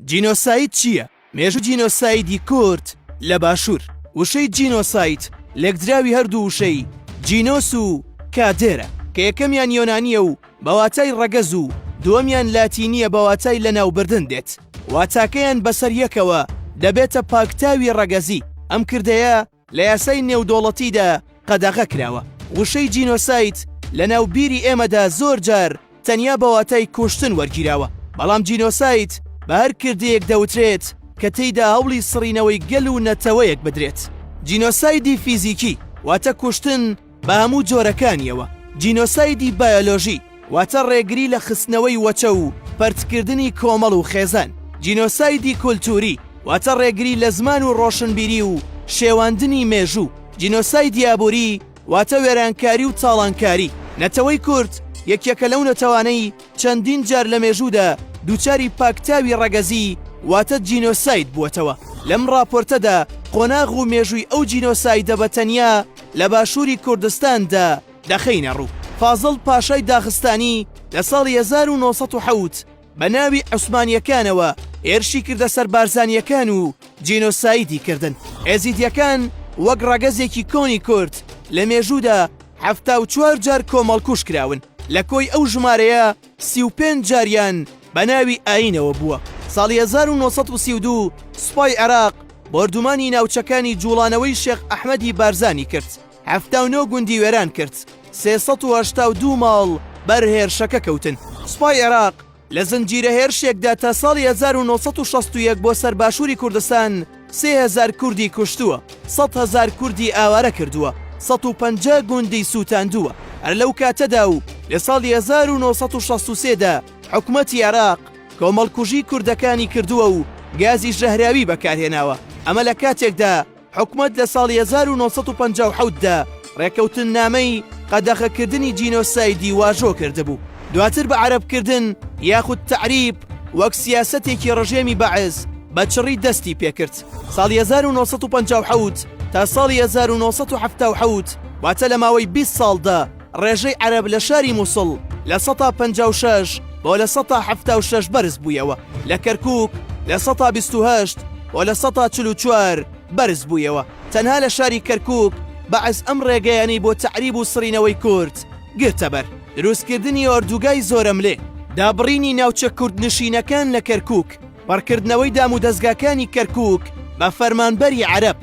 جینۆساید چییە؟ مێژوو جینۆسایدی کورد لە باشوور وشەی جینۆساید لێکدراوی هەردوو وشەی جینۆس و کادێرە کە یەکەمیان یۆنانیە و بەواتای ڕەگەز و دووەمیان لاتینیە بەواتای لەناوبردن دێت واتاکەیان بەسەر یەکەوە دەبێتە پاکتاوی ڕەگەزی ئەم کردەیە لە یاسای نێودەوڵەتیدا قەدەغە کراوە. وشەی جینۆساید لە ناو بیری ئێمەدا زۆر جار تەنیا بە واتای کوشتن وەرگیراوە، بەڵام جینۆساید بە هەر کردەیەک دەوترێت کە تێیدا هەوڵی سڕینەوەی گەل و نەتەوەیەک بدرێت. جینۆسایدی فیزیکی واتە کوشتن، بە هەموو جۆرەکانیەوە، جینۆسایدی بایۆلۆژی، واتە ڕێگری لە خستنەوەی وەچە و پەرتکردنی کۆمەڵ و خێزان، جینۆسایدی کولتووری، واتە ڕێگری لە زمان و ڕۆشنبیری و شێواندنی مێژوو، جینۆسایدی ئابووری، واتە وێرانکاری و تاڵانکاری، نەتەوەی کورد یەکێکە لەو نەتەوانەی، چەندین جار لە مێژوودا دووچاری پاکتاوی ڕەگەزی واتە جینۆساید بووەتەوە، لەم ڕاپۆرتەدا قۆناغ و مێژووی ئەو جینۆسایدە بە تەنیا لە باشووری کوردستاندا دەخەینە ڕوو. فازڵ پاشای داغستانی لە ساڵی هەزار و نۆ سەد و حەوت بە ناوی عوسمانییەکانەوە هێرشی کردە سەر بارزانییەکان و جینۆسایدی کردن. ئێزیدییەکان وەک ڕەگەزێکی کۆنی کورد لە مێژوودا حەفتا و چوار جار کۆمەڵکوژ کراون، لە کۆی ئەو ژمارەیە سی و پێنج جاریان بە ناوی ئایینەوە بووە. ساڵی هەزار و نۆ سەد و سی و دوو سوپای عێراق بۆردومانی ناوچەکانی جووڵانەوەی شێخ ئەحمەدی بارزانی کرد، حەفتا و نۆ گوندی وێران کرد، سێ سەد و هەشتا و دوو ماڵ بەر هێرشەکە کەوتن. سوپای عێراق لە زنجیرە هێرشێکدا تا ساڵی 1961 بۆ سەر باشووری کوردستان سێ هەزار کوردی کوشتووە، سەد هەزار کوردی ئاوارە کردووە، 150 گوندی سووتاندووە. هەر لەو کاتەدا و لە ساڵی 1963 دا حکومەتی عێراق کۆمەڵکوژی کوردەکانی کردووە و گازی ژەهراوی بەکارهێناوە، ئەمە لە کاتێکدا، حکومەت لە ساڵی هەزار و نۆ سەد و پەنجا و حەوت دا ڕێکەوتننامەی قەدەخەکردنی جینۆسایدی واژۆ کردبوو، دواتر بە عەرەبکردن یاخود تەعریب وەک سیاسەتێکی ڕژێمی بەعس بە چڕی دەستی پێ کرد. ساڵی هەزار و نۆ سەد و پەنجا و حەوت تا ساڵی هەزار و نۆ سەد و حەفتا و حەوت واتە لە ماوەی بیست ساڵدا، ڕێژەی عەرەب لە شاری موسڵ لە سەتا پەنجا و شەش بۆ لە سەتا حەفتا و شەش بەرز بوویەوە، لە کەرکووک لە سەتا بیست و هەشت بۆ لە سەتا چل و چوار بەرز بوویەوە، تەنها لە شاری کەرکووک بەعس ئەم ڕێگەیانەی بۆ تەعریب و سڕینەوەی کورد گرتەبەر، دروستکردنی ئۆردووگای زۆرەملێ، دابڕینی ناوچە کوردنشینەکان لە کەرکووک، پڕکردنەوەی دامودەزگاکانی کەرکووک بە فەرمانبەری عەرەب،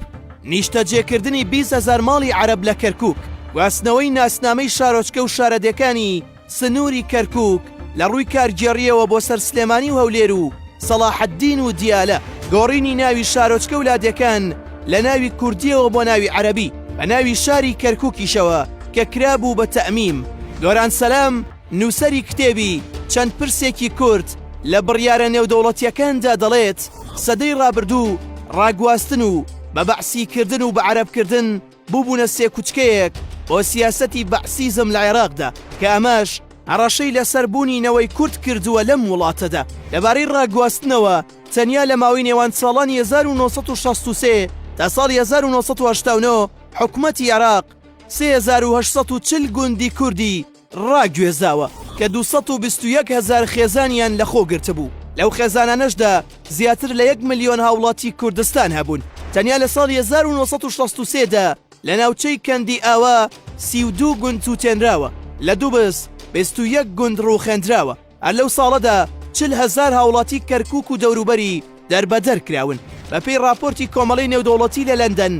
نیشتەجێکردنی بیست هەزار ماڵی عەرەب لە کەرکووک، گواستنەوەی ناسنامەی شارۆچکە و شارەدێکانی سنووری کەرکووک لە ڕووی کارگێڕییەوە بۆ سەر سلێمانی و هەولێر و سەڵاحەددین و دیالە، گۆڕینی ناوی شارۆچکە و لادێکان لە ناوی کوردییەوە بۆ ناوی عەرەبی، بە ناوی شاری کەرکووکیشەوە کە کرابوو بە تەئمیم، دۆران سەلام، نووسەری کتێبی چەند پرسێکی کورت لە بڕیارە نێودەوڵەتییەکاندا دەڵێت، سەدەی ڕابردوو ڕاگواستن و بە بەعسی کردن و بە عەرەب کردن بووبوونە سێکوچکەیەک بۆ سیاسەتی بەعسیزم لە عێراقدا کە ئەمەش هەڕەشەی لەسەر بوونی نەوەی کورد کردووە لەم وڵاتەدا. لەبارەی ڕاگواستنەوە، تەنیا لە ماوەی نێوان ساڵانی 1963 تا ساڵی 1989 حکومەتی عێراق 3840 گوندی کوردی، ڕاگوێزاوە کە دوو سەد و بیست و یەک هەزار خێزانیان لەخۆ گرتبوو، لەو خێزانانەشدا زیاتر لە یەک ملیۆن هاوڵاتی کوردستان هەبوون، تەنیا لە ساڵی هەزار و نۆ سەد و شەست و سێ دا لە ناوچەی کەندی ئاوا سی و دوو گوند سووتێنراوە، لە دوبز بیست و یەک گوند ڕووخێندراوە. هەر لەو ساڵەدا چل هەزار هاوڵاتی کەرکوک و دەوروبەری دەربەدەر کراون بەپێی راپۆرتی کۆمەڵەی نێودەوڵەتی لە لەندەن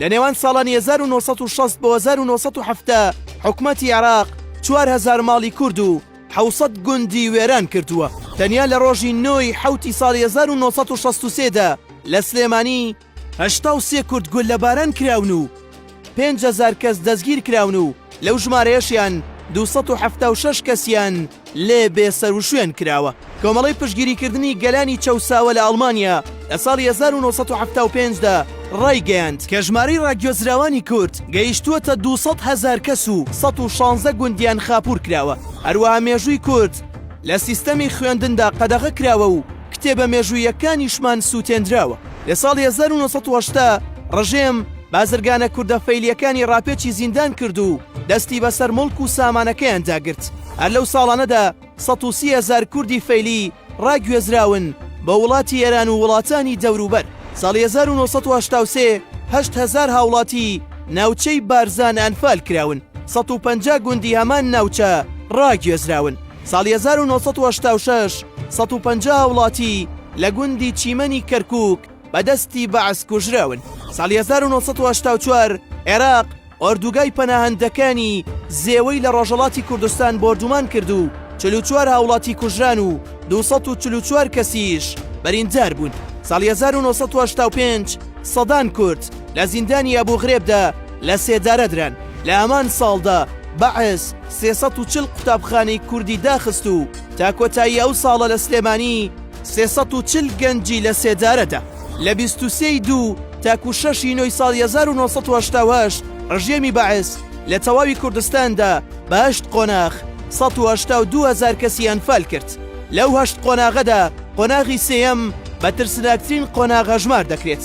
لە نێوان ساڵانی 1960 بۆ 1970 حکومەتی عێراق 4هزار ماڵی کورد و حوسەت گوندی وێران کردووە تەنیا لە ڕۆژی نۆی حوتی ساڵ 1963دا لە سلێمانی هەشتا و سێ کورد گوللەباران کراون و پێنج هەزار کەس دەستگیرکراون و لەو ژمارەیەشیان دوو سەد و حەفتا و شەش کەسیان لێ بێسەروشوێن کراوە. کۆمەڵەی پشتگیریکردنی گەلانی چەوساوە لە ئەڵمانیا لە ساڵی هەزار و نۆ سەد و حەفتا و پێنج دا ڕایگەیاند کە ژمارەی ڕاگوێزراوانی کورد گەیشتووەتە دوو سەد هەزار کەس و سەد و شانزە گوندیان خاپوور کراوە. هەروەها مێژووی کورد لە سیستەمی خوێندندا قەدەغە کراوە و کتێبە مێژووییەکانیشمان سووتێندراوە. لە ساڵی هەزار و نۆ سەد و هەشتا ڕژێم بازرگانە کوردە فەیلییەکانی ڕاپێچی زیندان کرد و دەستی بەسەر موڵک و سامانەکەیاندا گرت. هەر لەو ساڵانەدا سەد و سی هەزار کوردی فەیلی ڕاگوێزراون بۆ وڵاتی ئێران و وڵاتانی دەوروبەر. ساڵی هەزار و نۆ سەد و هەشتا و سێ هەشت هەزار هاوڵاتی ناوچەی بارزان ئەنفال کراون، سەد و پەنجا گوندی هەمان ناوچە ڕاگوێزراون. ساڵی هەزار و نۆ سەد و هەشتا و شەش سەد و پەنجا هاوڵاتی لە گوندی چیمەنی کەرکووک بە دەستی بەعس کوژراون. ساڵی هەزار و نۆ سەد و هەشتا و چوار عێراق ئۆردووگای پەناهەندەکانی زێوەی لە ڕۆژەڵاتی کوردستان بۆردومان کرد و چل و چوار هاوڵاتی کوژران و دوو سەد و چل و چوار کەسیش بریندار بوون. ساڵی هەزار و نۆ سەد و هەشتا و پێنج سەدان کورد لە زیندانی ئەبوو غرێبدا لە سێدارە دران. لە هەمان ساڵدا بەعس، سێ سەد و چل قوتابخانەی کوردی داخست و تا کۆتایی ئەو ساڵە لە سلێمانی سێ سەد و چل گەنجی لە سێدارەدا. لە بیست و سێ ی دوو تاکوو شەش ی نۆی ساڵی هەزار و نۆ سەد و هەشتا و هەشت ڕژێمی بەعس لە تەواوی کوردستاندا بە هەشت قۆناغ سەد و هەشتا و دوو هەزار کەسی ئەنفال کرد. لەو هەشت قۆناغەدا قۆناغی سێیەم بە ترسناکترین قۆناغ هەژمار دەکرێت.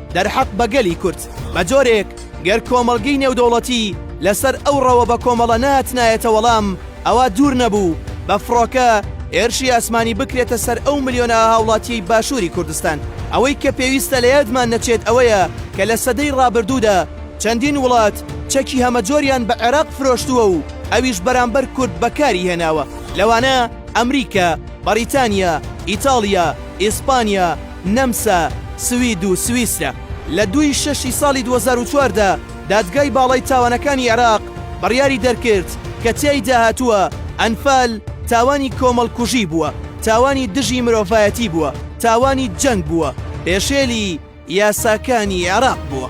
دەرحەق بە گەلی کورد بە جۆرێک گەر کۆمەڵگەی نێودەوڵەتی لەسەر ئەو ڕەوە بە کۆمەڵە نەهاتنایەتە وەڵام ئەوا دوور نەبوو بە فڕۆکە هێرشی ئاسمانی بکرێتە سەر ئەو ملیۆنە هاوڵاتیەی باشووری کوردستان ئەوەی کە پێویستە لە یادمان نەچێت ئەوەیە کە لە سەدەی ڕابردوودا چەندین وڵات چەکی هەمەجۆریان بە عێراق فرۆشتووە و ئەویش بەرامبەر کورد بەکاری هێناوە لەوانە ئەمریکا، بەڕیتانیا، ئیتاڵیا، ئیسپانیا، نەمسا، سوید و سویسرا. لە دوو ی شەش ی ساڵی دوو هەزار و چواردە دادگای باڵای تاوانەکانی عێراق بڕیاری دەرکرد کە تیایدا هاتووە ئەنفال تاوانی کۆمەڵکوژی بووە، تاوانی دژی مرۆڤایەتی بووە، تاوانی جەنگ بووە، پێشێلی یاساکانی عێراق بووە.